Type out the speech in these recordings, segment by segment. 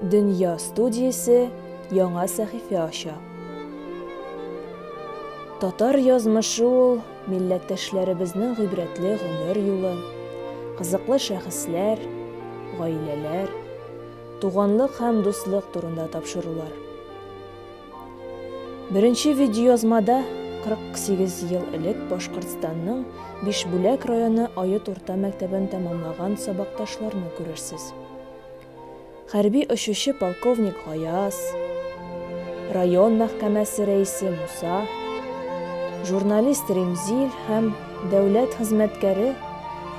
Дөнья студиясе яңа сәхифә ача. Татар язмышы ул милләттәшләребезнең гыйбрәтле гомер юлы, кызыклы шәхесләр, гаиләләр, туганлык һәм дуслык турында тапшырулар. Беренче видеоязмада 48 ел элек Башкортстанның Бишбүләк районы Оет урта мәктәбен тәмамлаган сабакташларны күрерсез. Хәрби очучы полковник Гаяз, район мәхкәмәсе рәисе Муса, журналист Ремзил һәм дәүләт хезмәткәре,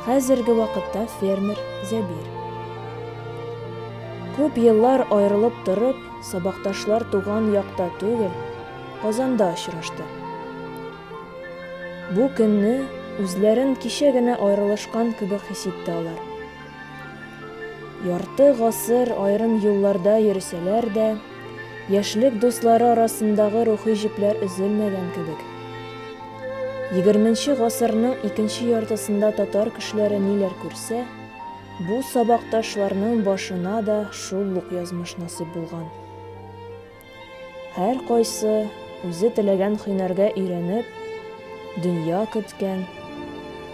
хәзерге вакытта фермер Зәбир. Күп еллар аерылып торып, Сабакташлар туган якта түгел, Казанда очрашты. Бу көнне үзләрен кичә генә аерылышкан кебек хис итте алар. Ярты гасыр аерым юлларда йөрсәләр дә, яшьлек дуслары арасындагы рухи җепләр өзелмәгән кебек. Егерменче гасырның икенче яртысында татар кешеләре ниләр күрсә, Бу сабакташларның башына да шул ук язмыш насыйп булган. Һәркайсы үзе теләгән һөнәргә өйрәнеп, дөнья көткән,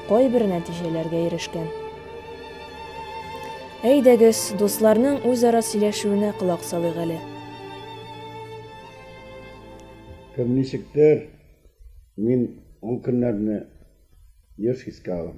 кайбер нәтиҗәләргә ирешкән. Әйдәгез, дусларның үзара сөйләшүенә колак салыйк әле. Кем ничектер, мин ул көннәрне еш искә алам.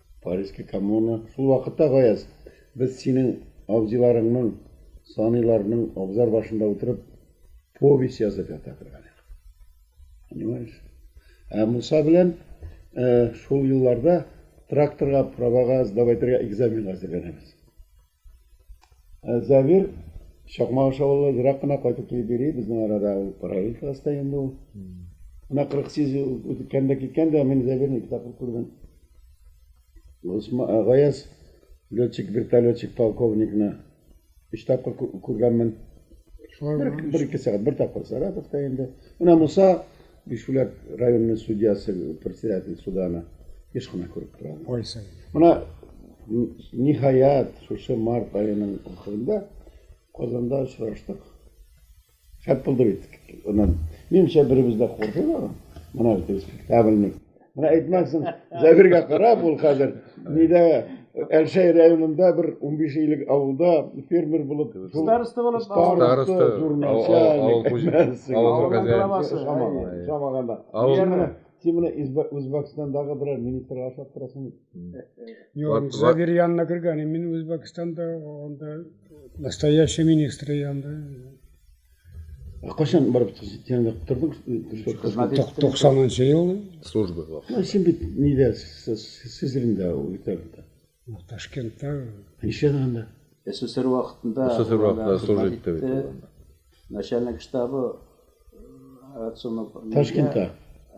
Парижский коммуна, шул вакытта, Гаяз, без синең абзыйларыңның, саныйларның абзар башында утырып, повесть язып ята торган идек. Понимаешь? Ә Муса белән шул елларда тракторга, правага сдавайтырга экзаменга әзерләнәбез. Ә Зәбир Чакмак аша ул ерак кына кайтып килеп йөри, безнең арада ул параллель класста инде ул. Менә 48 үткән дә киткән дә, мин Зәбирне ике тапкыр күрдем. Э, Гаяз летчик, вертолетчик, полковникны өч тапкыр күргәнмен. Бер, бер ике сәгать, бер тапкыр Саратовта инде. Менә Муса Бишбүләк районының судьясы, председатель суда аны еш кына күреп тора. Кайсын. Менә ниһаять шушы март аеның ахырында Казанда очраштык. Шәп булды бит. Аннан минемчә беребез дә куркыйбыз. Менә бит спектакльник. Менә әйтмәсен, Зәбиргә карап ул хәзер нидә Әлшәй районында бер 15 илек авылда фермер булып, староста булып, староста, журналчаник, Шамаганда. Син менә Үзбәкстандагы берәр министрга ошап торасың. Юк, Зәбир янына кергән, мин Үзбәкстанда анда настоящий министр янында. Ә кайчан барып тәнәдә тордың? Хезмәт итте. 90 ел. Служба вакыты. Син бит нидә сезрендә үтәрдә. Ташкентта. Ничәдә анда? СССР вакытында. СССР вакытында служба итте бит. Начальник штабы Ташкентта.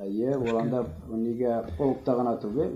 Әйе, ул анда нигә полкта гына түгел,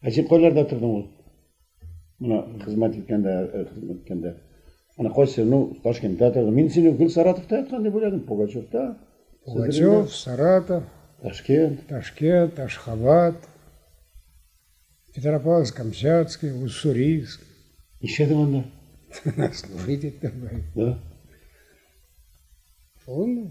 Ә син кайларда тордың ул? Менә хезмәт иткәндә, хезмәт иткәндә. Ана кайсы, ну, Ташкентта тордың. Мин сине гел Саратовта яткан дип уйладым, Пугачевта. Пугачев, Саратов, Ташкент, Ташкент, Ташхабад, Петропавловск, Камчатский, Уссурийск. Нишләдең анда? Служить иттем. Да? Шулмы?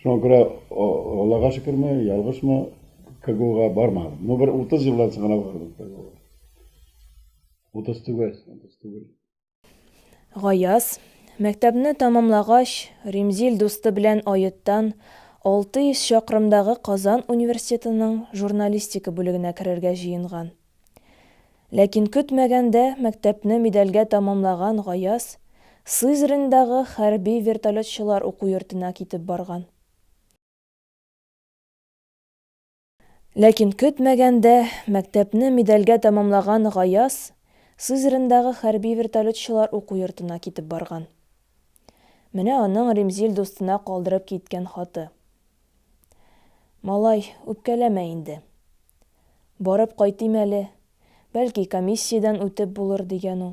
Шуңа күрә, Аллага шөкерме, ялгышмы, КГУга бармадым. Ну, бер утыз елдан соң гына бардым КГУга. Утыз түгел, утыз түгел. Гаяз, мәктәпне тәмамлагач, Римзил дусты белән Оеттан, 600 чакрымдагы Казан университетының журналистика бүлегенә керергә җыенган. Ләкин көтмәгәндә мәктәпне медальгә тәмамлаган Гаяз Сызрендагы хәрби вертолетчылар уку йортына китеп барган. Ләкин көтмәгәндә мәктәпне медальгә тәмамлаган Гаяз Сызрендагы хәрби вертолетчылар уку йортына китеп барган. Менә аның Римзил дустына калдырып киткән хаты. Малай, үпкәләмә инде. Барып кайтыйм әле, бәлки комиссиядән үтеп булыр, дигән ул.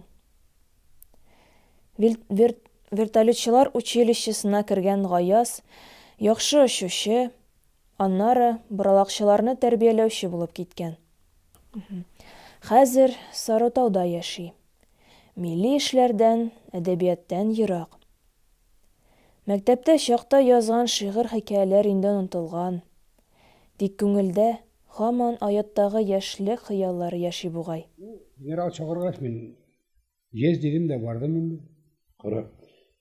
Вел, вер, вертолетчылар училищесына кергән Гаяз, яхшы очучы, аннары боралакчыларны тәрбияләүче булып киткән. Хәзер Сарытауда яши. Милли эшләрдән, әдәбияттән ерак. Мәктәптә чакта язган шигырь-хикәяләр инде онытылган. Тик күңелдә һаман ояттагы яшьлек хыяллары яши бугай. Ну, генерал чакыргач, мин ес дидем дә бардым инде. Кара.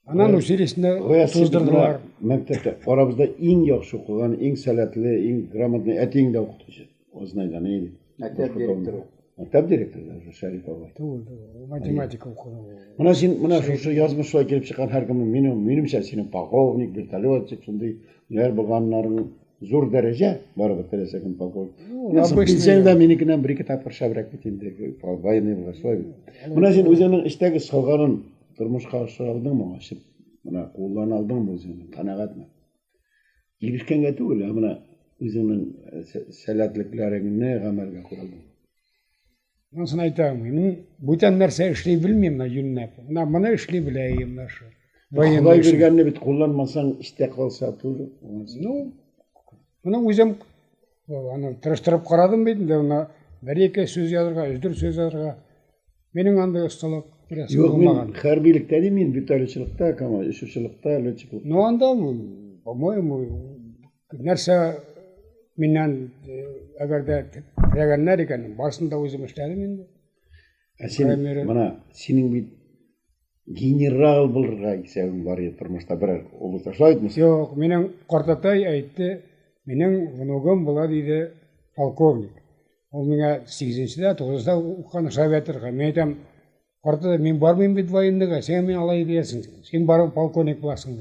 Аннан училищены туздырдылар. Мәктәптә арабызда иң яхшы укыган, иң сәләтле, иң грамотный әтиең дә укытучы, Ознайдан иде. мектеп директоры мектеп директоры даже шәриф бабай түгел түгел математика укыган мына син мына шушы язмышлай килеп чыккан һәркемне мин минемчә синең полковник вертолетчик шундый нәр булганнарың зур дәрәҗә барыбер теләсә кем полковник пенсияң дә минекеннән бер ике тапкыр шәбрәк бит инде военный булгач шулай бит мына син үзеңнең эчтәге салганын тормышка ашыра алдыңмы ачып мына куллана алдыңмы үзеңне канәгатьме Ирешкәнгә түгел, ә менә үзеңнең сәләтлекләреңне гамәлгә куйдың. Анысын әйтә алмыйм. Мин бүтән нәрсә эшли белмим, менә юньнәп. Менә моны эшли беләем, менә шул. Ходай биргәнне бит кулланмасаң, истә калса түгел. Ну, моны үзем Аны тырыштырып карадым бит инде, аны бер-ике сүз язырга, өздер сүз язырга. Минем андый осталык рәсем Юк, булмаган. Юк, хәрбилектә дим мин, битәрлечилектә, кама, ишүчилектә, летчиклык. Ну анда, по-моему, нәрсә миннән э, әгәр дә теләгәннәр икән, барсын да үзем эшләдем инде. Ә син, менә, синең бит Генерал булырга исәвең бар иде тормышта, берәр олы ташлай идеңме? Юк, минем картатай әйтте, минем внугым була диде полковник. Ул миңа 8-дә, 9-да уккан Шаветрга. Мин әйтәм, картатай, мин бармыйм бит военныйга, син мин алай диясең. Син барып полковник буласың.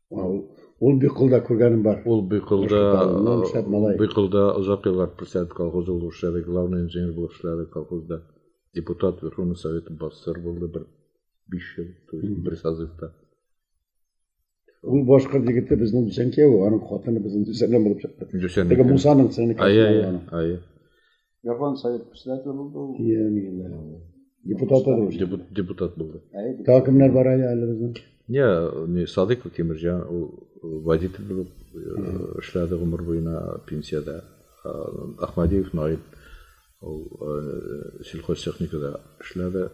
Ул Быкылда күргәнем бар. Ул Быкылда, э, Быкылда озак еллар председатель колхозы булып эшләде, главный инженер булып эшләде колхозда. Депутат Верховный Совет бассыр булды бер 5 ел, то есть бер созывта. Ул башка егете безнең Дүсән кияү, аның хатыны безнең Дүсәннән булып чыкты. Дүсәннән. Теге Мусаның сеңлеклесе. Ая, ая. Япон совет председателе булды ул. Иә, миңа. Депутат да Депут- Депутат булды. Әйе, Тағы кемнәр бар әле әле безнең? Не, не Садыков Тимирҗан, ул водитель булып э, эшләде гомер буена пенсиядә. Э, Ахмадиев Наил, ул э, сельхозтехникада эшләде,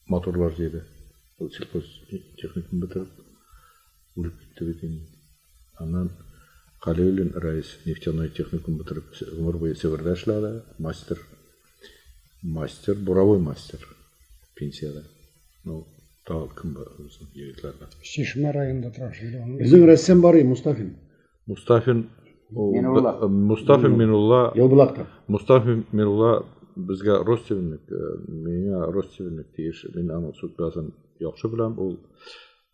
моторлар җыйды. Ул сельхозтехникум бетереп. Үлеп китте бит инде. Аннан Галиуллин Раис нефтяной техникум бетереп, гомер буе Себердә эшләде, мастер, мастер, буровой мастер пенсияда. Ну, тагы кем бар безнең егетләрдә? Чишмә районында тора шунда. Безнең рәссам бар и Мустафин. Мустафин Минулла. Э, Мустафа Минулла. Елбулакта. Мустафа Минулла безгә родственник, э, миңа родственник тиеш. Мин аның судьбасын яхшы беләм. Ул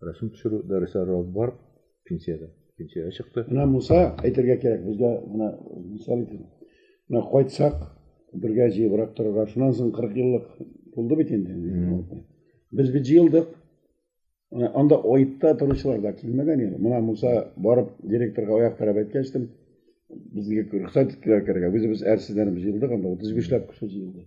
Рәсем төшерү дәресләре алып барып, пенсиядә, пенсиягә чыкты. Менә Муса әйтергә кирәк, безгә менә мисал итеп, менә кайтсак, бергә җыебрак торырга. Шуннан соң 40 еллык булды бит инде. Без бит җыелдык. Менә анда аитта торучылар да килмәгән инде. Менә Муса барып директорга аяк терәп әйткәчтем, безгә рөхсәт иттеләр керергә. Үзебез әрсезләнеп җыелдык, анда 35 ләп кеше җыелды.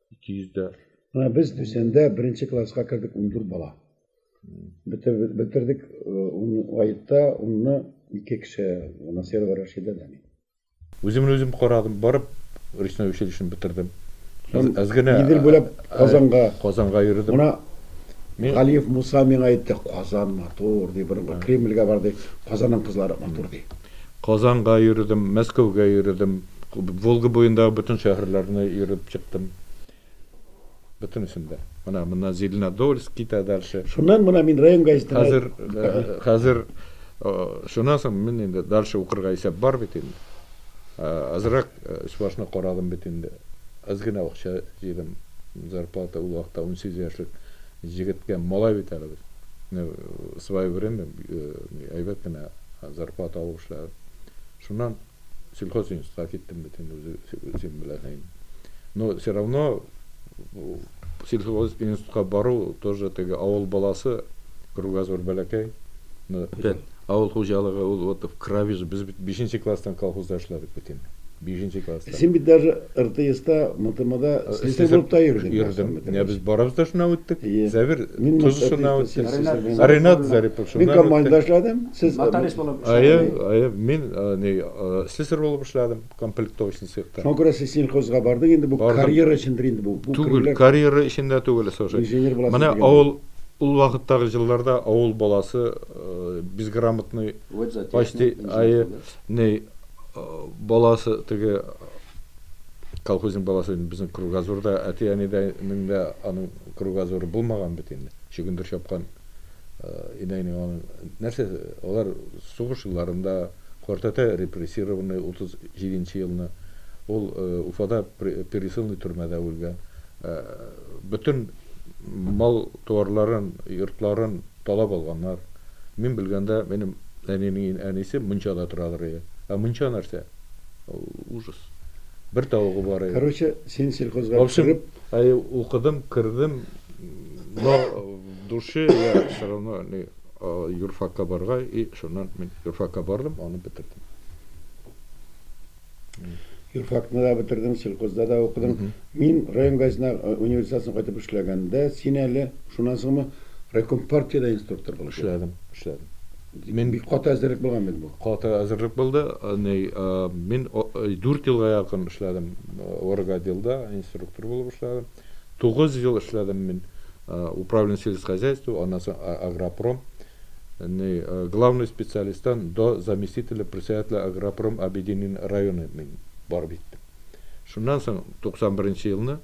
200-дә. Менә без Төсәндә беренче класска кердек 14 бала. Бетердек, бетердек аетта унны ике кеше, Насирова Рәшидә дә мин. Үземне үзем карадым, барып речной училищены бетердем. Әзгенә Идел буйлап Казанга. Казанга йөрдем. Мына Галиев Муса миңа әйтте, Казан матур, ди, борынгы Кремльгә бар, ди, Казанның кызлары матур, ди. Казанга йөрдем, Мәскәүгә йөрдем. Волга буендагы бөтен шәһәрләрне йөреп чыктым. Бөтенесен дә. Менә моннан Зеленодольск китә дальше. Шуннан менә мин район газетына Хәзер э, хәзер э, шуннан соң мин инде дальше укырга исәп бар бит инде. Э, Азрак э, өс-башны карадым бит инде. Аз генә акча җыйдым. Зарплата ул вакытта 18 яшьлек җегеткә малай бит әле без. Менә, э, Свое время э, әйбәт кенә зарплата алып эшләдем. Шуннан Сельхозинститутка киттем бит инде, үзең беләсең инде. Но все равно сельхозинститутка бару тоже теге авыл баласы, кругозор бәләкәй. Авыл хуҗалыгы ул вот в крови же. Без бит бишенче класстан колхозда эшләдек бит инде. Бишенче класстан. Син бит даже РТСта, МТМда слесарь булып та йөрдең. Йөрдем. Менә без барыбыз да шуннан үттек. Сәбир, Тозышыннан үттек. Ренат Зарипов шуннан үтте. Мин комбайнда эшләдем. Сез нотариус булып эшләдегез бит? Әйе, әйе. Мин ни, слесарь булып эшләдем, комплектовочный цехта. Шуңа күрә сез сельхозга бардык инде, бу карьера өчендер инде бу. Түгел, карьера өчен дә түгел, слушай. Инженер буласыз дигән. Менә авыл, ул вакыттагы җылларда авыл баласы безграмотный, почти, әйе, ни, баласы теге колхозник баласы инде безнең кругозорда, әти-әнидәнең дә аның кругозоры булмаган бит инде. Чөгендер чапкан. инәйнең аның нәрсә алар сугыш елларында картәтә репрессированный утыз җиденче елны ул уфада пересыльный төрмәдә үлгән бөтен мал туарларын йортларын талап алганнар мин белгәндә минем әнинең әнисе мунчада торадыр иде ә мунча нәрсә ул ужас бер тавыгы бар иде короче син сельхозга кереп укыдым кердем но Душе я все равно не юрфакка барырга и шуннан мин юрфакка бардым, аны бетердем. Юрфакны да бетердем, сельхозда да укыдым. Мин район газетына университетны кайтып эшләгәндә, син әле шуннан соңмы райком партиядә инструктор булып эшләдем. Эшләдем. Мин бик каты әзерлек булган бит бу. Каты әзерлек булды. Ни, мин 4 елга якын эшләдем. Оргоделда инструктор булып эшләдем. Тугыз ел эшләдем мин управление сельскохозяйства, аннан соң агропром. Ни, главный специалисттан до заместителя председателя агропром объединен районы мин барып җиттем. Шуннан соң 91 елны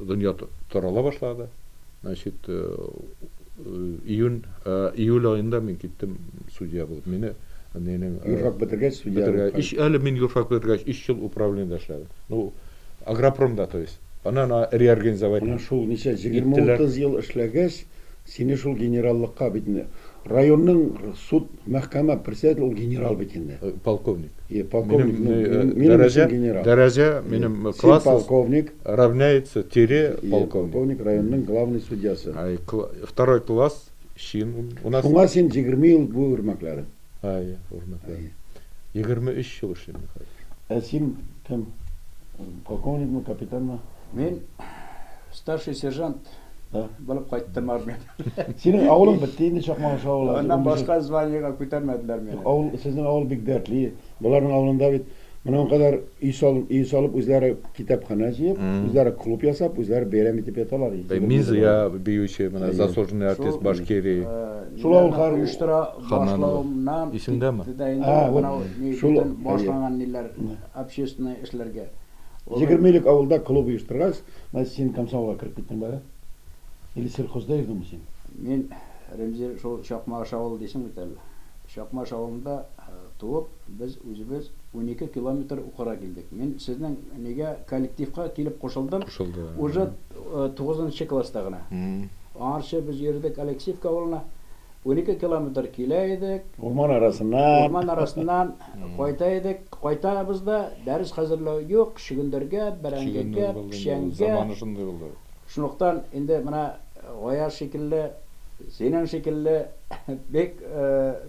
дөнья тарала башлады. Значит, июнь, июль аенда мин киттем судья булып. Мине нинең юрфак бетергәч судья. Бетергәч, әле мин юрфак бетергәч 3 ел управлениедә эшләдем. Ну, Агропромда, то есть. Аны ана реорганизовать Менә шул ничә, егерме-утыз ел эшләгәч, сине шул генераллыкка, бит инде районның суд, мәхкәмә председателе ул генерал бит инде. Полковник. Е, полковник, ну, минем, минем өчен генерал. Дәрәҗә, минем класс. Син полковник. Равняется тире полковник. Полковник, районның главный судьясы. Второй класс, чин. Шуңа син егерме ел буе үрмәкләдең. Әйе, урынлы. Әйе. Егерме өч ел эшлим мин хәзер. Ә син кем? Полковникмы, капитанмы? Мин старший сержант Да. булып кайттым армиядән. Синең авылың бетте инде, Чакмагыш авылы. Аннан башка званиегә күтәрмәделәр мине. Авыл, сезнең авыл бик дәртле. Боларның авылында бит. Моның кадәр өй салып, өй салып, үзләре китапханә җыеп, үзләре клуб ясап, үзләре бәйрәм итеп яталар. Минзыя биюче, менә заслуженный артист Башкирии. Шул авыллар оештыра башлавымнан китте дә инде анау ни бөтен башлаган ниләр, общественный эшләргә. Егерме элек авылда клуб оештыргач, менә син комсомолга кереп киттең бары. Или сельхозда йөрдеңме син? Мин, Римзил, шул Чакмагыш авылы дисең бит әле. Чакмаш авылында туып, без үзебез унике километр укырга килдек. Мин сезнең нигә коллективка килеп кушылдым, уже тугызынчы класста гына. Аңарчы без йөрдек Алексеевка авылына, унике километр килә идек, урман арасыннан кайта идек, кайтабыз да, дәрес хәзерләү юк, чөгендергә, бәрәңгегә, печәнгә, Шунлыктан инде менә Гаяз шикелле, синең шикелле бик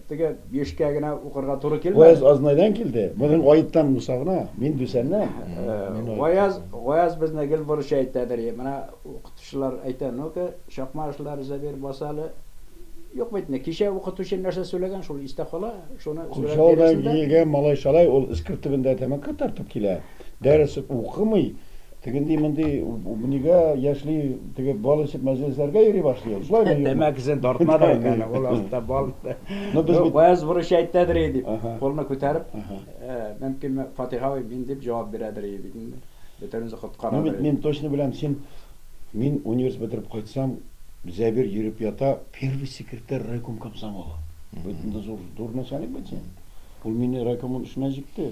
теге бишкә генә укырга туры килмәде. Гаяз Азнайдан килде, бүген Гаеттан Муса гына, мин Дүсәннән. Гаяз, Гаяз безне гел борыча әйтәдер, менә укытучылар әйтә, ну-ка, чакма эшләр Зәбир, бас әле. Юк бит инде, кичә укытучы нәрсә сөйләгән, шул истә кала, шуны сөйләп бирәсең дә. Курчалдан килгән малай-шалай, ул эскерт төбендә тәмәке тартып килә, дәрес укымый, Тегенди монди нигә яшьли теге бал эчеп мәҗлесләргә йөри башлый ул. Шулай да Тәмәкесен тартма да инде аны, ул астында бал. Ну без бит. Вәяз бурычы әйтәдер и дип, кулны күтәреп, мөмкин Фатыйха абый мин дип җавап бирәдер и бит инде. Бөтенебезне коткарадыр. Ну бит мин точно беләм син мин университет бетереп кайтсам Зәбир йөреп ята первый секретарь райком комсомола. Бөтен дә зур начальник бит син. Ул мине райкомның эшенә җикте.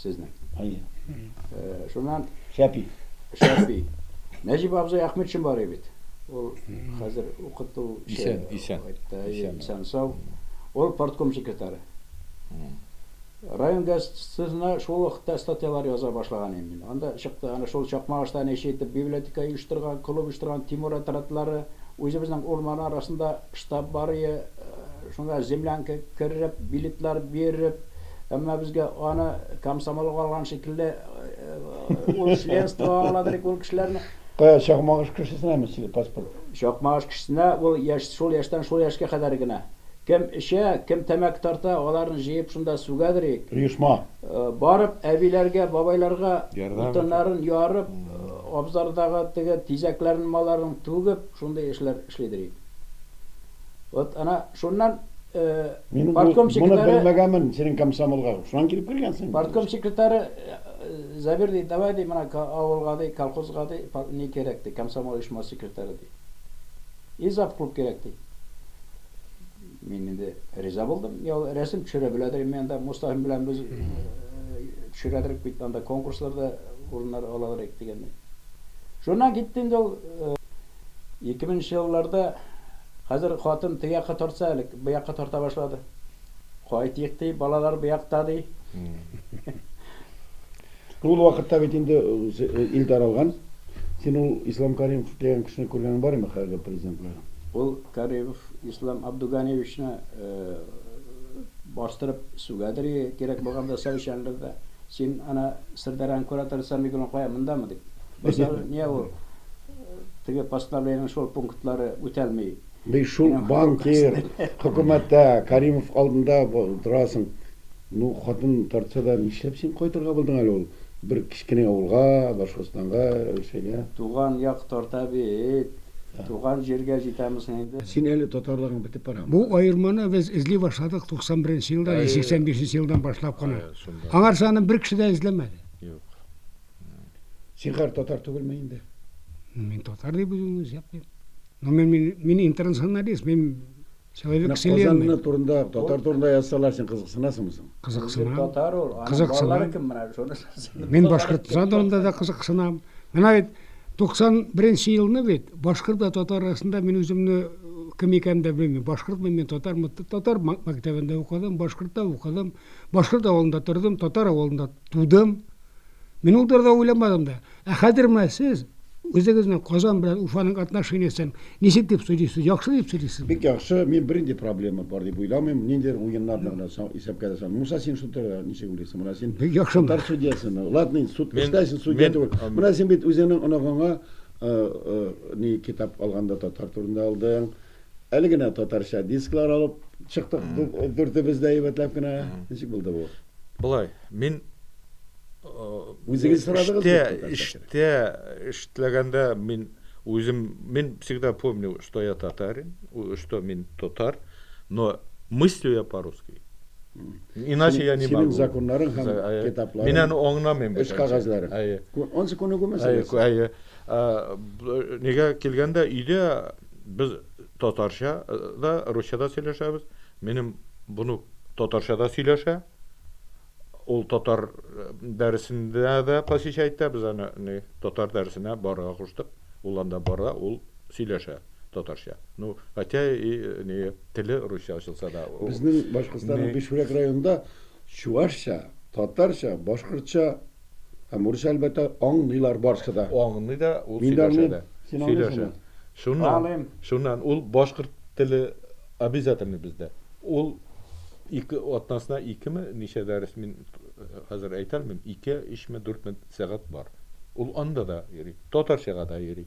Сезнең. Әйе. Шуннан Шәпи. Шәпи. Нәҗип абзый Ахмет Чынбарый бит. Ул хәзер укыту исән, исән. Исән сау. Ул партком секретары. Район газетасына шул вакытта статьялар яза башлаган идем мин. Анда чыкты, ана шул Чакмагышта нече итеп библиотека оештырган, клуб оештырган, Тимур отрядлары, үзебезнең урман арасында штаб бар ие, Шунда землянка кереп, билетлар биреп, әмма безгә аны комсомол алган шикелле, ул членство аңладыр икән ул кешеләрне. Кая, Чакмагыш кешесенәме сине паспорт? Чакмагыш кешесенә ул яшь, шул яшьтән шул яшькә кадәр генә. Кем эчә, кем тәмәке тарта, аларны җыеп шунда сүгәдер ик. Оешма. Барып, әбиләргә, бабайларга утыннарын ярып, абзардагы теге тизәкләрен малларның түгеп, шундый эшләр эшлидер ик. Вот ана шуннан партком секретаре... Моны белмәгәнмен, синең комсомолга. Шуннан килеп кергәнсең. Партком секретаре Забир ди, давай ди, менә авылга ди, колхозга ди, ни кирәк ди, комсомол оешмасы секретаре ди. И зав клуб кирәк ди. Мин инде риза булдым. Я рәсем төшерә беләдер инде анда Мустафин белән без төшерәдер бит анда конкурсларда урыннар алалар дигәндәй. Шуннан китте инде ул Ике меңенче елларда Хәзер хатын теге якка тартса әле, бу якка тарта башлады. Кайтыйк ди, балалар бу якта ди. Ул вакытта бит инде ил таралган. Син ул Ислам Каримов дигән кешене күргәнең бар име, хәерге президентлар? Ул Каримов Ислам Абдуганиевичны бастырып сүгәдер и, кирәк булганда сау икәнбез дә. Син ана Сырдарьяның кураторы Сәмигуллин кая, мондамы дип. Бу сорау, ниә ул? Теге постановлениенең шул пунктлары үтәлми. Бик шул банкир, хөкүмәттә, Кәримов алдында торасың. Ну, хатын тартса да, нишләп син кайтырга булдың әле ул бер кечкенә авылга, Башкортстанга, Русиягә? Туган як тарта бит. Туган җиргә җитәме соң инде? Син әле татарлыгың бетеп барамы? Бу аерманы без эзли башладык 91 нче елда, я 85 нче елдан башлап кына. Аңарчы аны бер кеше дә эзләмәде. Юк. Син хәр татар түгелме инде? Мин татар дип үземне исәплим. Но мин, мин, мин интернационалист, мин человек вселенной. Казан турында, татар турында язсалар, син кызыксынасыңмы соң? Кызыксынам. Татар ул. Кызыксынам. Кем менә шуны? Мин Башкортстан турында да кызыксынам. Менә бит 91 елны бит башкорт та татар арасында мин үземне кем икәнен дә белмим. Башкортмы мин, татармы? Татар мәктәбендә укыдым, башкортта укыдым, башкорт авылында тордым, татар авылында тудым. Мин ул турыда уйламадым да. Ә хәзер менә сез үзегезнең Казан белән Уфаның отношениясен ничек дип сөйлисез? Яхшы дип сөйлисезме? Бик яхшы. Мин бернинди проблема бар дип уйламыйм. Ниндидер уеннар да гына исәпкә дә салмыйм. Муса, син шул турыда ничек уйлыйсың? Менә син Бик яхшы. татар судьясымы? Ладно, инде суд Мин- эшләсен, судья мин- түгел. ам- Менә син бит үзеңнең оныгыңа э, э, ни китап алганда татар турында алдың. Әле генә татарча дисклар алып чыктык дүртебез дә әйбәтләп кенә. Ничек булды бу? Болай, мин Үзегез сорадыгыз бит татарча. Эштә эшләгәндә мин үзем, мин всегда помню, что я татарин, что мин татар, но мыслю я по-русски. Иначе я не могу. Синең законнарың һәм китапларың. Мин аны аңламыйм. Эш кагазьләрең. Әйе. Ансы күнегү мәсьәләсе. Әйе. Ә нигә килгәндә өйдә без татарча да, русча да сөйләшәбез. Минем бунук татарча да сөйләшә. Ул татар дәресендә дә посещать итә. Без аны ни татар дәресенә барырга куштык. Ул анда бара, ул сөйләшә татарча. Ну, хотя и ни теле русча ачылса да. Безнең Башкортстанның Бишбүрәк районында чувашча, татарча, башкортча Ә Мурза, әлбәттә, аңлыйлар барсы да. Аңлый да, ул Мин дә сөйләшә аңлыйм. дә. Син аңлыйсыңмы? Сөйләшә. Шуннан, Аңлыйм. шуннан ул башкорт теле обязательный бездә. Ул ике атнасына икеме, ничә дәрес, мин хәзер әйтә алмыйм, ике, өчме, дүртме сәгать бар. Ул анда да йөри. Татарчага да йөри.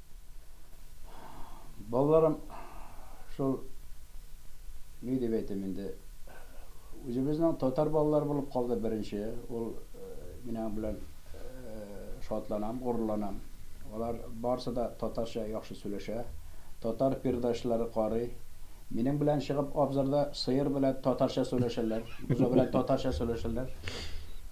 Балаларым шул ни дип әйтим инде, үзебезнең татар балалары булып калды беренче, ул минең белән шатланам, горурланам. Алар барысы да татарча яхшы сөйләшә, татар передачалары карый. Минең белән чыгып абзарда сыер белән татарча сөйләшәләр, бозау белән татарча сөйләшәләр.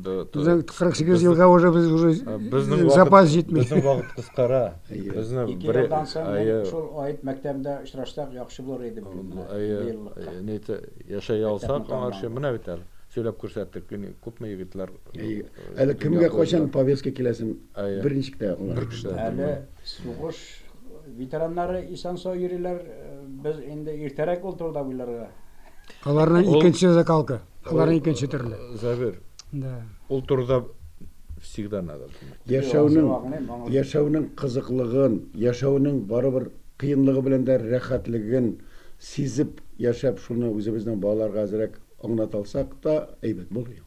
Безнең 48 елга уже без уже безнең запас җитми. Безнең вакыт кыскара. Безнең бер елдан соң шул аеп мәктәбендә очрашсак яхшы булыр иде бу. Нәйтә яшәй алсак аңарчы менә бит әле. Сөйләп күрсәттек күпме егетләр. Әле кемгә кайчан повестка киләсен беренче китә. Бер кеше. Әле сугыш ветераннары исән-сау йөриләр. Без инде иртәрәк ул турыда уйларга. Аларның икенче закалка. Алар икенче төрле. Забер. Да. Ул турыда всегда надо думать. Яшәүнең яшәүнең кызыклыгын, яшәүнең барыбер кыенлыгы белән дә рәхәтлеген сизеп яшәп, шуны үзебезнең балаларга әзрәк аңлата алсак та әйбәт булыр иде.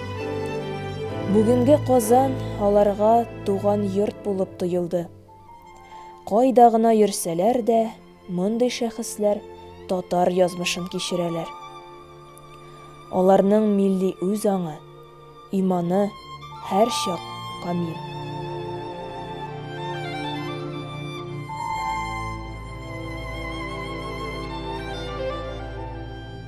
Бүгенге Казан аларга туган йорт булып тоелды. Кайда гына йөрсәләр дә, мондый шәхесләр татар язмышын кичерәләр. Аларның милли үз аңы, иманы һәрчак камил.